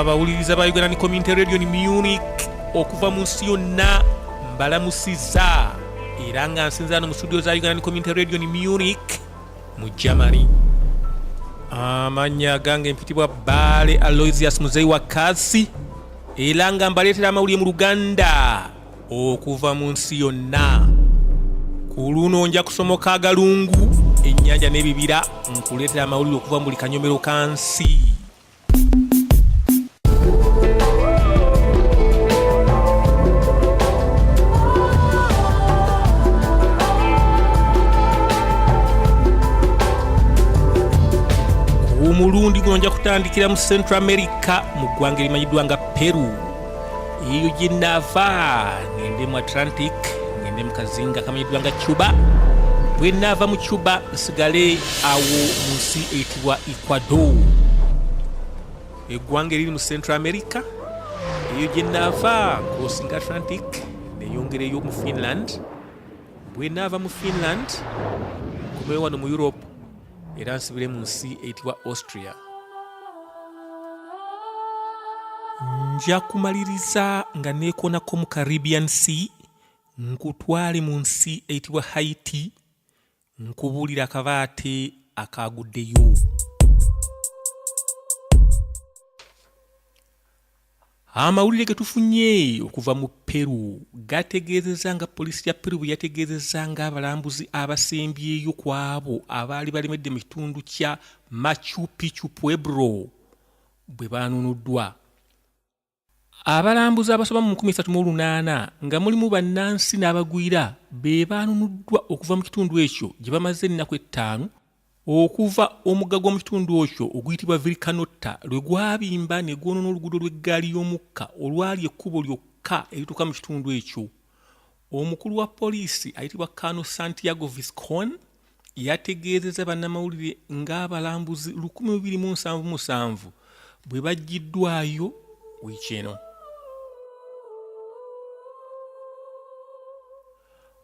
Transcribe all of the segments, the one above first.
abawuliriza ba uganda ni community radio ni munich okuva mu nsi yonna mbalamusiza era nga nsinzira no mu studio za uganda ni community radio ni munich mu germany amanya gange mpitibwa baale aloisius muzeyi wa kasi era nga mbaleetera amawulire mu luganda okuva mu nsi yonna ku luno nja kusomoka agalungu ennyanja n'ebibira nkuleetera amawulire okuva mu buli kanyomero ka nsi omulundi guno nja kutandikira mu central america mu ggwanga erimanyiddwa nga peru Eugene Nafa ngende mu Atlantic ngende mu kazinga kamanyiddwa nga Cuba bwe naava mu Cuba nsigale awo mu nsi eyitibwa Ecuador eggwanga eriri mu Central America eyo gye naava crossing Atlantic neyongera eyo mu Finland bwe naava mu Finland nkomewo wano mu Europe era nsibire mu nsi eyitibwa austria nja kumaliriza nga neekoonako mu caribbean sea nkutwale mu nsi eyitibwa haiti nkubuulira akabaate akaaguddeyo Amawulire ge tufunye okuva mu Peru gategeezezza nga poliisi ya Peru bwe yategeezezza ng'abalambuzi abasembyeyo ku abo abaali balemedde mu kitundu kya Machu Picchu Pueblo bwe baanunuddwa. Abalambuzi abasoba mu 38 nga mulimu bannansi n'abagwira be baanunuddwa okuva mu kitundu ekyo gye bamaze ennaku ettaano Okuva omugga gw'omu kitundu okyo oguyitibwa Vilcanotta lwe gwabimba ne gwonoona oluguudo lw'eggaali y'omukka olwali ekkubo lyokka erituuka mu kitundu ekyo, omukulu wa poliisi ayitibwa Colonel Santiago Viscon yategeezezza bannamawulire ng'abalambuzi lukumi mu biri mu nsanvu musanvu bwe baggyiddwaayo wiiki eno.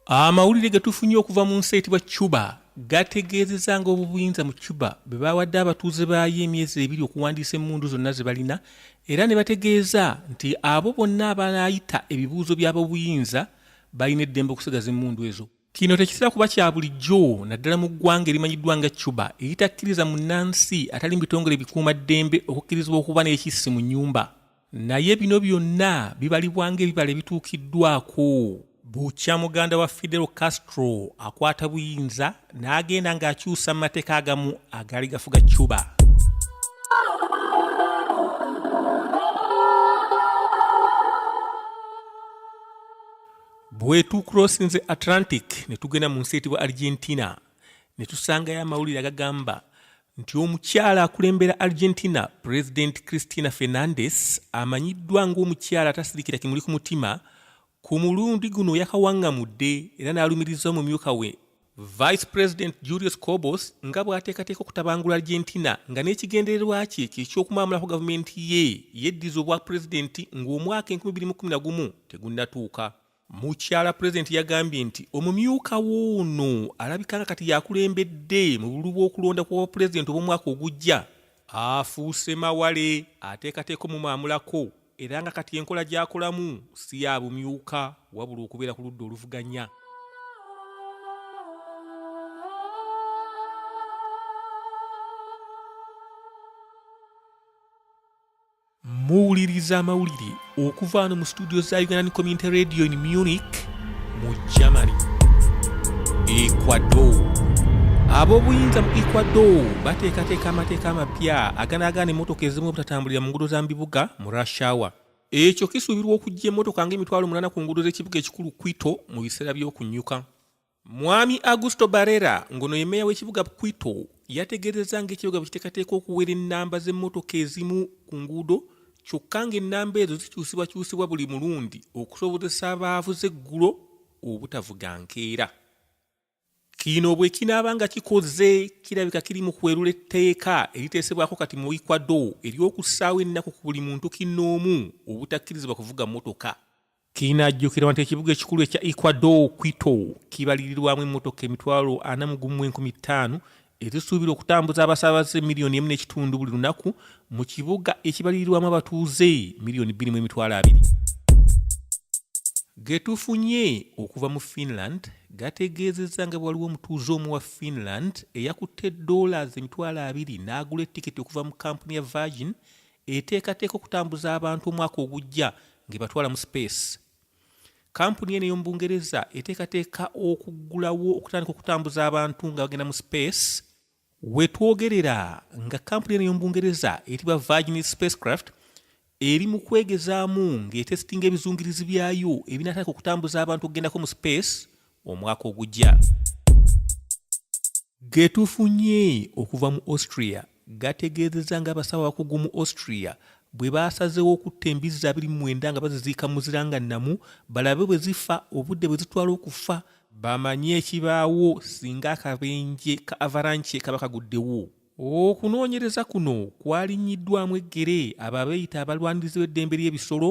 Amawulire ge tufunye okuva mu nsi eyitibwa Cuba gategeezeza nga obubuyinza mu Cuba bwe baawadde abatuuze baayo emyezi ebiri okuwandiisa emmundu zonna ze balina era ne bategeeza nti abo bonna abalayita ebibuuzo by'abobuyinza balina eddembe okusigaza emmundu ezo. Kino tekitera kuba kya bulijjo naddala mu ggwanga erimanyiddwa nga Cuba eritakkiriza munnansi atali mu bitongole bikuuma ddembe okukkirizibwa okuba n'ekissi mu nnyumba. naye bino byonna bibalibwa ng'ebibala ebituukiddwako bukya muganda wa fidel castro akwata buyinza n'agenda ng'akyusa mu mateeka agamu agaali gafuga cuba bwetukurosinze atlantic ne tugenda mu nsi etibwa argentina ne tusangayo amawulire agagamba nti omukyala akulembera argentina pulezidenti christina fernandes amanyiddwa ng'omukyala atasirikira kimuli ku mutima ku mulundi guno yakawaŋŋamudde era n'alumiriza omumyuka we vice president julius cobos nga bw'ateekateeka okutabangula argentina nga n'ekigendererwa kye kye ky'okumaamulako gavumenti ye yeddiza obwa pulezidenti ng'omwaka 2011 tegunnatuuka Mukyala Pulezidenti yagambye nti omumyuka w'ono alabika nga kati yakulembedde mu bululu bw'okulonda kw'obwapulezidenti obw'omwaka ogujja afuuse mawale ateekateeka omumaamulako era nga kati enkola gy'akolamu si ya bumyuka wabula okubeera ku ludda oluvuganya. muwuliriza amawulire okuva wano mu situdio za ugandan community radio in munich mu germany ecuador ab'obuyinza mu ecuador bateekateeka amateeka amapya aganaagaana emmotoka ezimu obutatambulira mu ngudo za mu bibuga mu rashawa ekyo kisuubirwa okujja emmotoka ng'emitwalo munana ku ngudo z'ekibuga ekikulu quito mu biseera by'okunyuka Mwami Augusto Barrera ngono ye meeya w'ekibuga Quito yategeezezza ng'ekibuga bwe kiteekateeka okuwera ennamba z'emmotoka ezimu ku nguudo kyokka ng'ennamba ezo zikyusibwakyusibwa buli mulundi okusobozesa abaavuze eggulo obutavuga nkeera kino bwe kinaaba nga kikoze kirabika kiri mu kwerula etteeka eriteesebwako kati mu ecuador ery'okussaawo ennaku ku buli muntu kinnoomu obutakkirizibwa kuvuga mmotoka Kinajjukirwa nti ekibuga ekikulu ekya Ecuador, Quito, kibalirirwamu emmotoka emitwalo ana mu gumu enkumi ttaano ezisuubirwa okutambuza abasaabaze miliyoni emu n'ekitundu buli lunaku mu kibuga ekibalirirwamu abatuuze miliyoni bbiri mu emitwalo abiri. Getufunye okuva mu Finland gategeezezza nga waliwo omutuuze omu wa Finland eyakutte dollars emitwalo abiri n'agula etiketi okuva mu kampuni ya Virgin eteekateeka okutambuza abantu omwaka ogujja ng'ebatwala mu sipeesi kampuni eno ey'omu bungereza eteekateeka okuggulawo okutandika okutambuza abantu nga bagenda mu sipeesi wetwogerera nga kampuni eno ey'omu bungereza etibwa virgin spacecraft eri mu kwegezaamu ng'etesitinga ebizungirizi byayo ebinatandika okutambuza abantu okugendako mu sipeesi omwaka ogujja Getufunye okuva mu Austria gategeezezza ng'abasawo abakugu mu Austria bwe baasazeewo okutta embizzi abiri mu mwenda nga baziziika mu muzira nga nnamu balabe bwe zifa obudde bwe zitwala okufa bamanye ekibaawo singa akabenje ka avaranche kaba kaguddewo okunoonyereza kuno kwalinnyiddwamu eggere abo abeeyita abalwanirizi b'eddembe ly'ebisolo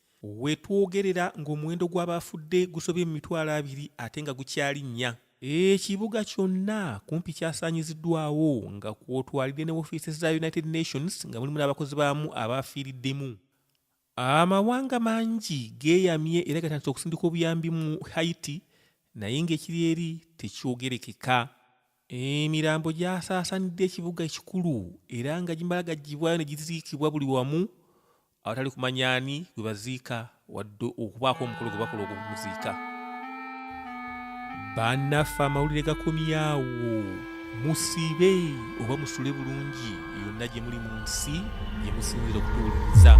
Wetwogerera ng'omuwendo gw'abaafudde gusobye mu mitwalo abiri ate nga gukyali nnya. Ekibuga kyonna kumpi kyasaanyiziddwawo nga kw'otwalidde ne wofiisi za United Nations nga mulimu n'abakozi baamu abaafiiriddemu. Amawanga mangi geeyamye era gatandise okusindika obuyambi mu Haiti naye ng'ekiri eri tekyogerekeka. Emirambo gyasaasanidde ekibuga ekikulu era nga gimala gaggyibwayo ne giziikibwa buli wamu awatali kumanya ani gwe baziika wadde okubaako omukolo gwe bakola ogwokumuziika bannaffe amawulire gakomyawo musibe oba musule bulungi yonna gye muli mu nsi gye musinzira okutuwuliriza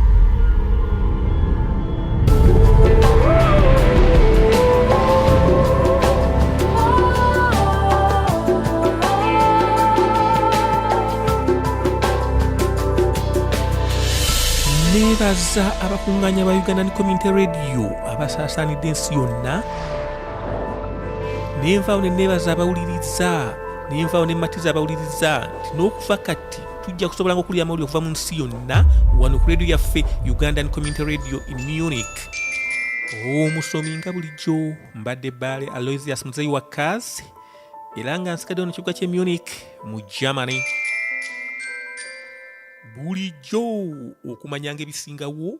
nebaza abakuŋŋaanya ba ugandan community radio abasaasaanidde ensi yonna nenvaawo ne nebaza abawuliriza ne nvaawo ne mmatiza abawuliriza nti n'okuva kati tujja kusobola nga okulya amawulire okuva mu nsi yonna wano ku radio yaffe ugandan community radio in munich omusomi nga bulijjo mbadde baale aloisius muzeyi wa kazi era nga nsigaddewo ne kibuga kye munich mu germany bulijjo okumanyanga ebisingawo